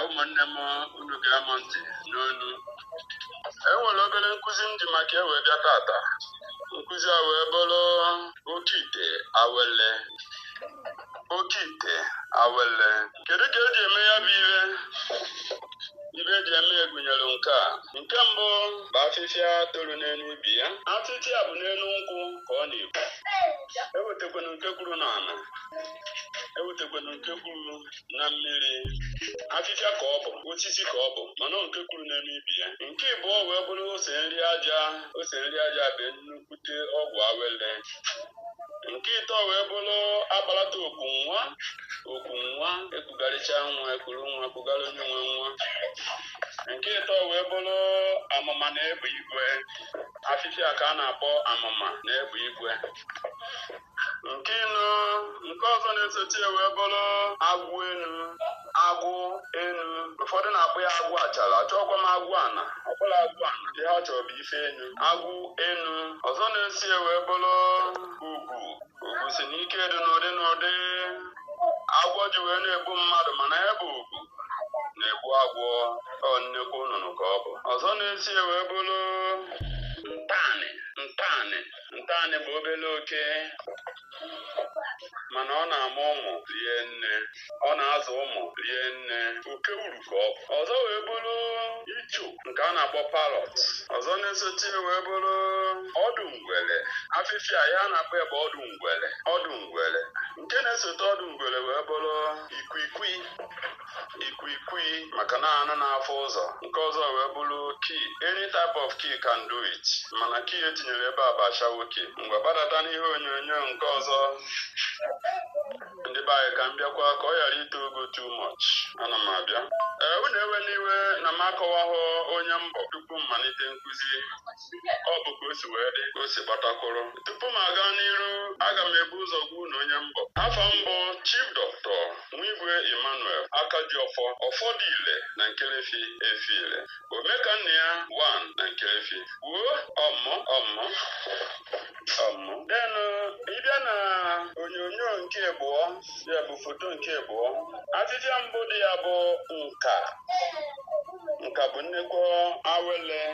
ụmụnne m unu ṅaa m ntị n'ọnụ e nwere obere nkụzi m ji maka ya wee bịa tata nkụzi a wee bụrụ oke ite awele oke ite awele kedu ka eji eme ya bụ ife ife eji eme ya gụnyere nke a nke mbụ bụ afịfịa toro n'elu ibe ya afịfịa bụ n'elu nkwụ ka ọ na-epu ewetakwana nke puru n'ala ewetakwana nke puru na mmiri afịfịa ka ọ bụ osisi ka ọ bụ mana nke puru n'elu ibe ya nke ịbụọ wee bụrụ ose nri aja ose nri aja bụ nnukwute ọgwụ awele nke ịtọ wee bụrụ akpalata oku nwa oku nwa ekugharịcha nwa e kuru nwa kugara onye nwe nwa nke ịtọ wee bụrụ amụma na egbe igwe afịfịa ka a na-akpọ amụma na egbe igwe nke ịnọ nke ọzọ na-esochi ya wee bụrụ agwụ enu agwụ enu ụfọdụ na-akpọ ya agwụ achara achọkwa m agwụ ana ọ bụrọ agwụ ana ihe ọ chọrọ bụ isi enu agwụ enu ọzọ na-eso ya wee bụrụ ugo ugo sị n'ike dị n'ụdị n'ụdị agwọ ji wee na-egbu mmadụ mana ya bụ ugo na-egbu agwọ ọ nnekwu nnụnụ ka ọ bụ ọzọ na-eso ya wee bụrụ ntanị ntanị ntanị bụ obere oke mana ọ na-amụ ụmụ rie nne ọ na-azụ ụmụ rie nne oke uru ka ọ bụ ọzọ wee bụrụ icho nke a na-akpọ parrot ọzọ na-esochi ya wee bụrụ ọdụ ngwere afịfịa ya a na-akpọ ebe ọdụ ngwere ọdụ ngwere nke na-esote ọdụ ngwere wee bụrụ ikwikwii ikwikwii maka na anụ na-afụ ụzọ nke ọzọ wee bụrụ key any type of key can do it mana key etinyere ebe a bụ ashawo key mgbe gbadata n'ihe onyonyo nke ọzọ ndị be anyị ka m bịakwa ka ọ ghara ito ogo too much ana m abịa ee unu ewena iwe na m akọwahụ onye m bụ tupu m malite nkụzi ọ bụ ka o si wee dị ka o si gbata kwụrụ tupu m aga n'iru aga m ebu ụzọ gwa unu onye m bụ afa m bụ chief doctor Nwigwe Emmanuel aka ji ọfọ ọfọ dị ile na Nkerefi efi ile omeka nna ya one na Nkerefi wuo ọmụ ọmụ ọmụ denụ ị bịa na onyonyo nke abụọ ya bụ foto nke abụọ afịfịa mbụ dị ya bụ nke a nke a bụ nnekwu awele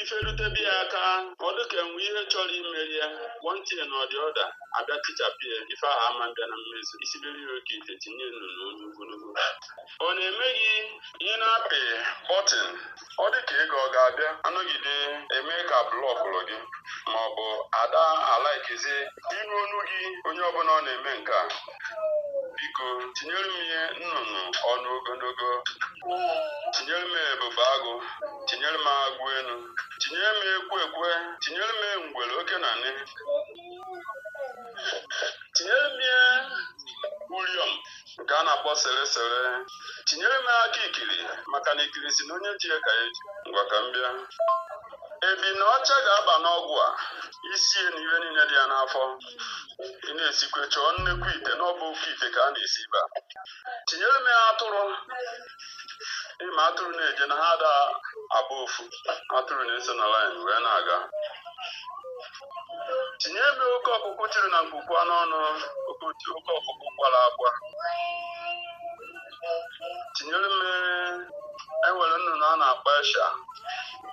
ife rutebe ya aka ọ dịka e nwe ihe chọrọ imeri ya wọntie na ọdị ọda abịa tichapụ ya ife ahụ ama mbịa na mmezu i sibere ya oke ite tinye nnụnụ ọnụ ogologo ọ na-eme gị ị na-apị bọtịn ọ dị ka ego ọ ga-abịa anọgide eme ka blọkụrụ gị ma ọ bụ ada alaikizi iru ọnụ gị onye ọbụla ọ na-eme nke a biko tinyere m ya nnụnụ ọnụ ogologo tinyere m ya ebube agụ tinyere m ya agụ elu tinyere m ya ekwe ekwe tinyere m ya ngwere oke na nne tinyere m ya uriom nke a na-akpọ sere sere tinyere m ya aka ikiri maka na ikiri sị na onye ji ya ka ya ji ngwa ka m bịa ebune ọcha ga-aba n'ọgwụ a isi ya na ihe niile dị ya n'afọ ị na-esikwa ya chọọ nnekwu ite na ọ bụ oke ite ka a na-esi ebe a tinyere m ya atụrụ ị ma atụrụ na-eje na ha ada abụ ofu atụrụ na-eso na laịn wee na-aga tinyebe oke ọkụkụ tiri na mkpukpu anụ ọnụ oke ọkụkụ kwara akwa tinyere m ya e nwere nnụnụ a na-akpọ asha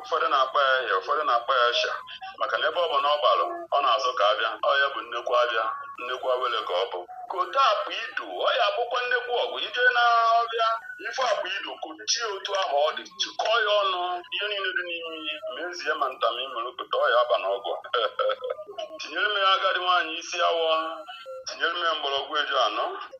ụfọdụ na-akpọ ya ahịa ụfọdụ na-akpọ ya asha maka na ebe ọbụna ọ gbalụ ọ na-azụ ka ahịa ọ ya-abụ nnekwu ahịa nnekwu awele ka ọ bụ kote akpụ ido ọ ya-abụkwa nnekwu ọgwụ i je na ọhịa ị fụ akpụ ido kochie otu ahụ ọ dị chịkọọ ya ọnụ ihe niile dị n'ime ihe mezie ma ntam imere kote ọ ya-aba n'ọgwụ tinyere m ya agadi nwaanyị isi awọ tinyere m ya mgbọrọgwụ eju anọ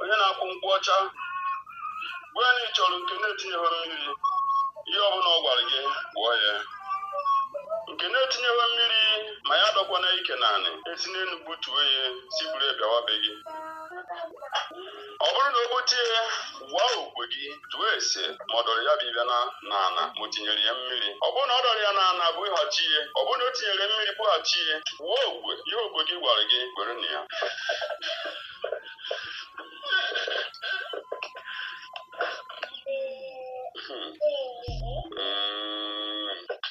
onye na-aku nkwụ ọcha gwa ya na ị chọrọ nke na-etinyeghị mmiri ihe ọbụla ọ gwara gị kwụọ ya nke na-etinyeghị mmiri ma ya adọkwana ike n'anị e si n'elu butuo ya si buru ya bịawa be gị ọ bụrụ na o bute ya gbaa okwe gị jụọ ese ma ọ dọrọ ya bụ ife na n'ala ma o tinyere ya mmiri ọ bụrụ na ọ dọrọ ya n'ala bughachi ya ọ bụrụ na o tinyere mmiri bughachi ya gbaa okwe ihe okwe gị gwara gị kwere na ya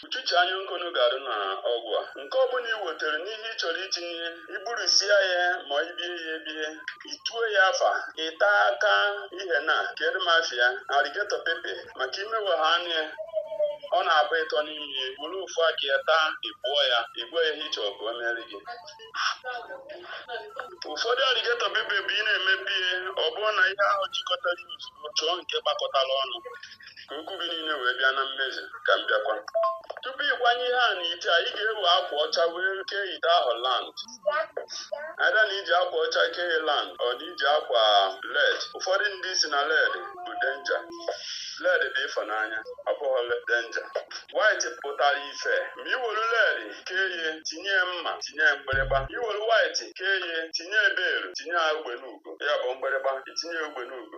uchuche anya nkunu ga-adị na ọgwụ a nke ọ bụla ị wetara n'ihe ị chọrọ itinye i gburisia ya ma i bie ya ebie i tuo ya afa ị ta aka ihe na kere mafia alligator pepper maka ị mewaa ya anya ọ na-abụ ịtọ n'ime ya buru ofu aka ya taa ị bụọ ya ị gwa ya ihe ị chọrọ ka o mere gị ụfọdụ alligator pepper bụ ị na-emebi ya ọ bụrụ na ihe ahụ jikọtara ya ozugbo chọọ nke gbakọtara ọnụ ka okwu gị niile wee bịa na mmezu ka m bịakwa tupu ịkwanye ihe a n'ite a ị ga-ewe akwa ọcha wee kee ite ahụ round ada na iji akwa ọcha kee round ọ na iji akwa red ụfọdụ ndị sị na red bụ danger red bụ ịfụnanya ọ bụghị danger white pụtara ife ma iwelu red kee ya tinye ya mma tinye ya mgbịrịgba iwelu white kee ya tinye ya bell tinye ya ugbene ugo ya bụ mgbịrịgba itinye ya ugbene ugo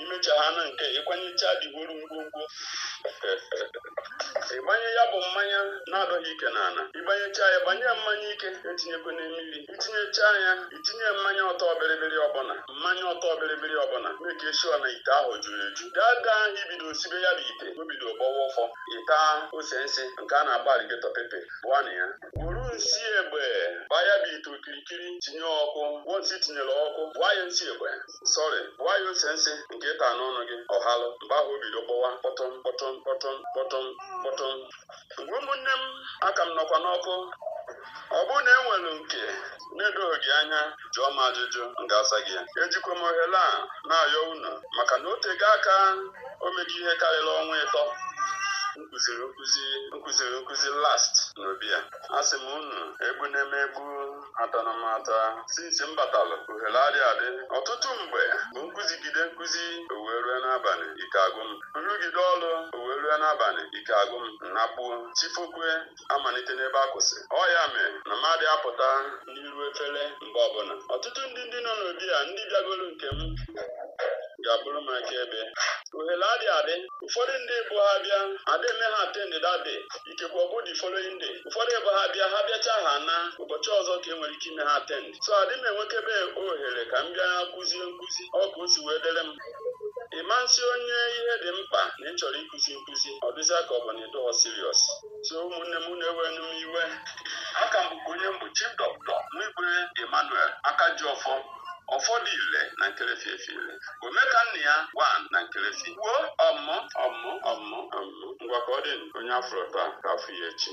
imecha ha na nke ịkwanyecha digoro ngwongwo ịgbanye ya bụ mmanya na-adọghị ike n'ala ịgbanyecha ya gbanye mmanya ike etinyekwana mmiri itinyecha ya itinye mmanya ọtọ bịrịbịrị ọbụla mmanya ọtọ bịrịbịrị ọbụla make sure na ite ahụ juru eju gaa gaa ahụ ibido sibe ya bụ ite o bido gbọwa ụfọ ịta ose nsị nke a na-akpọ alligator pepper bụọ na ya were nsi egbe gbaa ya bụ ite okirikiri tinye ọkụ gwọ nsi tinyere ọkụ gbaa ya nsi egbe sorry gbaa ya ose nsị nke ịta n'ọnụ gị ọhalụ mgbe ahụ o bido kpọwa kpọtụm kpọtụm kpọtụm kpọtụm kpọtụm ngwa ụmụnne m aka m nọkwa n'ọkụ ọ bụrụ na e nwere nke na-edoghị gị anya jụọ m ajụjụ m ga-asa gị ya ejikwa m ohere a na-ayọ unu maka na o tego aka o mego ihe karịrị ọnwa ịtọ m kụziri nkụzi m kụziri nkụzi last n'obi a asị m unu egbuna m egbu atana m ata since m batalụ ohere adị adị ọtụtụ mgbe bụ m kụzigide nkụzi owee rue n'abalị ike agwụ m m rụgide ọrụ owee rue n'abalị ike agwụ m nakpuo chi fokwe amalite n'ebe a kwụsị ọ ya mee na m adị apụta n'iru efere mgbe ọbụla ọtụtụ ndị ndị nọ n'obi a ndị bịagoro nke m ga-abụrụ m akaebe ohere adị adị ụfọdụ ndị bụ ha bịa adị eme ha attend that day ikekwe ọ bụ the following day ụfọdụ bụ ha bịa ha bịacha ha na ụbọchị ọzọ ka e nwere ike ime ha attend so adị m enwekebe ohere ka m bịa kụzie nkụzi ọ ka o si wee dere m ị ma nsị onye ihe dị mkpa na ị chọrọ ịkụzi nkụzi ọ dịzịa ka ọ bụ na ịdọghọ serious so ụmụnne m na-ewenụ m iwe aka m bụkwa onye m bụ chief doctor nwigwe emmanuel aka ji ọfọ ọfọ dụ ile na nkerefi efi ile omeka nna ya one na nkerefi kwuo ọmụ ọmụ ọmụ ọmụ ngwa ka ọ dị onye afụrọ taa ka a fụ ya echi